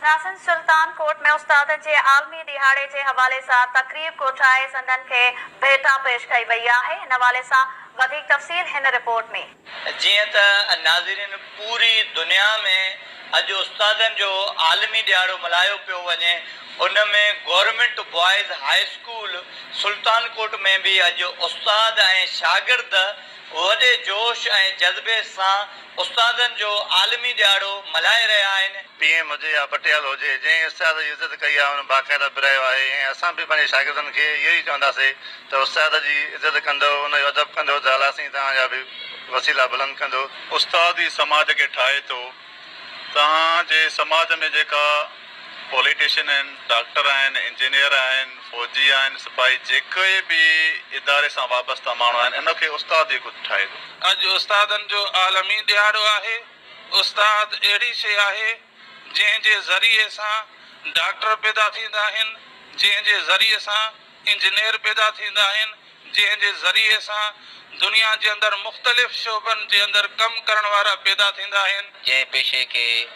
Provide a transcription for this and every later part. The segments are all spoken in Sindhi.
ناصر سلطان ڪوٽ ۾ استادن جي عالمي ڏهاڙي جي حوالي سان تقريب ڪوٺرائي سندن کي ڀيٽا پيش ڪئي وئي آهي ان حوالي سان وڌيڪ تفصيل هن رپورٽ ۾. جيئن ته ناظرين پوري دنيا ۾ اڄ استادن جو عالمي ڏهاڙو ملهايو پيو وڃي ان ۾ government boys high school Sultan Kot ۾ به اڄ استاد ۽ شاگرد وڏي جوش ۽ جذبي سان استادن جو عالمي ڏهاڙو ملهائي رهيا آهن. پي ايم هجي يا پٽيل هجي جنهن استاد جي عزت ڪئي آهي ان باقاعده پرائيو آهي ۽ اسان به پنهنجي شاگردن کي اهو ئي چونداسي ته استاد جي عزت ڪندو ان جو ادب ڪندو ته الله سائين توهان جا به وسيلا بلند ڪندو. استاد ئي سماج کي ٺاهي ٿو. توهان جي سماج ۾ جيڪا. پوليٽيشن آهن، ڊاڪٽر آهن، انجنيئر آهن، فوجي آهن، سپاهي جيڪي به اداري سان وابسته ماڻهو آهن ان کي استاد ئي خود ٺاهي ٿو. اڄ استادن جو عالمي ڏهاڙو آهي، استاد اهڙي شيء آهي جنهن جي ذريعي سان ڊاڪٽر پيدا ٿيندا آهن، جنهن جي ذريعي سان انجنيئر پيدا ٿيندا آهن جنهن جي ذريعي سان دنيا جي اندر مختلف شعبن جي اندر ڪم ڪرڻ وارا پيدا ٿيندا آهن. جنهن پيشي کي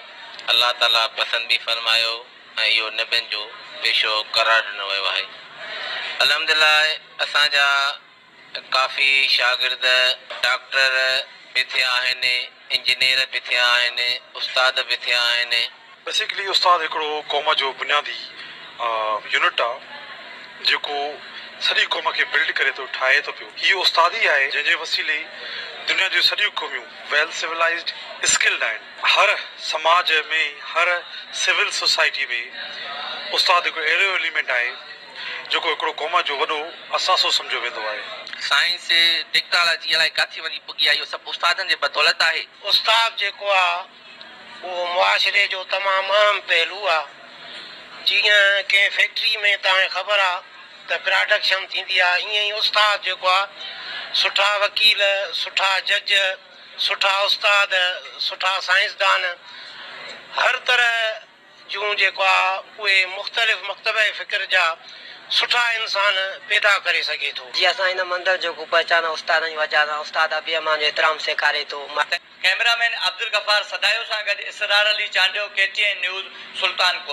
الله تعاليٰ پسند به فرمايو ۽ اهو نبين جو پيشو قرار ڏنو ويو آهي الحمدلله اسان جا. ڪافي شاگرد ڊاڪٽر به ٿيا آهن، انجنيئر به ٿيا آهن، استاد به ٿيا آهن. بيسيڪلي استاد هڪڙو قوم جو بنيادي يونٽ آ جيڪو سڄي قوم کي بلڊ ڪري ٿو ٺاهي ٿو پيو هي استاد ئي آهي جنهن جي وسيلي دنيا جون سڄيون قوميون ويل سولائيزڊ اسڪلڊ آهن هر سماج ۾ هر سول سوسائٽي ۾ استاد هڪڙو اهڙو ايليمينٽ آهي جيڪو هڪڙو قوم جو وڏو اثاثو سمجهيو ويندو آهي. سائنس، ٽيڪنالاجي الائي ڪاٿي وڃي پڳي آهي اهو سڀ استادن جي بدولت آهي. استاد جيڪو آ اهو معاشري جو تمام اهم پهلو آ. جيئن ڪنهن فيڪٽري ۾ توهان کي خبر آ ته پراڊڪشن ٿيندي آ ائين ئي استاد جيڪو آ سٺا وڪيل، سٺا جج، سٺا استاد، سٺا سائنسدان هر طرح، جون جيڪو آ اهي مختلف مڪتبه فڪر جا سٺا انسان پيدا ڪري سگهي ٿو. جي اسان هن مندر جو ڪو پهچان استادن جي وجهه سان استاد ابي امان جو احترام سيکاري ٿو ماء. ڪئميرا مين عبدالغفار سدايو سان گڏ Israr Ali Chandio K T N news Sultanpur.